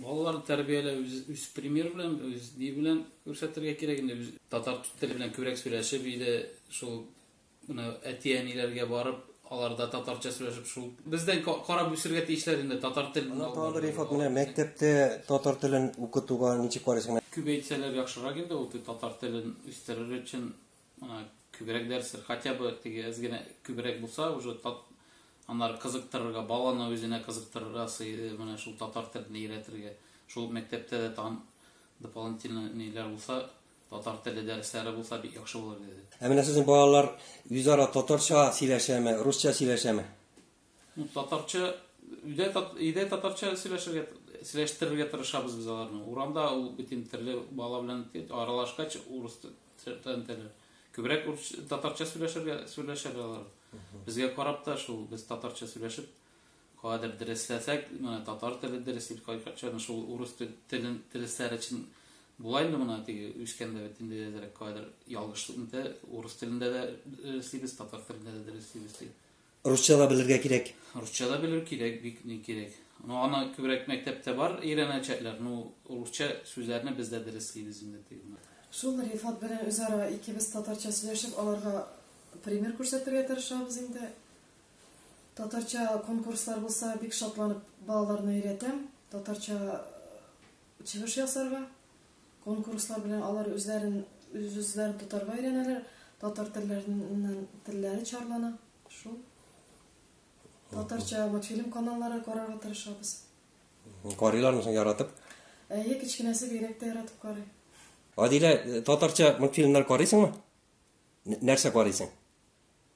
Балаларны тәрбияләү үз, үз пример белән, үз ни белән күрсәтергә кирәк инде. Үз татар теле белән күбрәк сөйләшеп иде, шул менә әти-әниләргә барып, аларда татарча сөйләшеп шул бездән карап үсергә тиешләр инде татар телен. Ана тагы Рифат менә мәктәптә татар телен укытуга ничек карыйсың? Күбәйтсәләр яхшырак инде ул татар телен үстерер өчен Ана күбрәк дәрсләр, хотя бы теге әз генә күбрәк булса, уже тат аннары кызыктырырга, баланы үзенә кызыктырырга сыйды, менә шул татар телен өйрәтергә. Шул мәктәптә дә тагын дополнительно ниләр булса, татар теле дәресләре булса бик яхшы булыр иде. Ә менә сезнең балалар үзара татарча сөйләшәме, русча сөйләшәме? Ну, татарча, өйдә, өйдә татарча сөйләшергә, сөйләштерергә тырышабыз без аларны. Урамда ул битем төрле бала белән аралашкач, урыс теле. Күбрәк татарча сөйләшергә сөйләшәләр алар. Безгә карап та шул, без татарча сөйләшеп, кадәр дәресләсәк, менә татар теле дәрес итеп кайтканча, шул урыс телен дәресләр өчен Булай инде мына теге үскәндә бит инде әзрәк кадәр ялгышлыкны да урыс телендә дә эшлибез, татар телендә дә эшлибез. Русча да белергә кирәк. Русча да белер кирәк, бик ни кирәк. Ну, аны күбрәк мәктәптә бар өйрәнәчәкләр. Ну, русча сүзләрне без дә дәреслибез инде тегене. Шул Рифат белән үзара икебез татарча сөйләшеп, аларга пример күрсәтергә тырышабыз инде. Татарча конкурслар булса, бик шатланып балаларны өйрәтәм. Татарча Чыгыш ясарга, конкурслар белән алар үзләрен үз-үзләрен тотарга өйрәнәләр, татар телләреннән телләре чарлана. Шул. Татарча мультфильм каналлары карарга тырышабыз. Карыйлармы соң яратып? Әйе, кечкенәсе бигрәк тә яратып карый. Адилә, э, татарча мультфильмнар карыйсыңмы? Нәрсә карыйсың?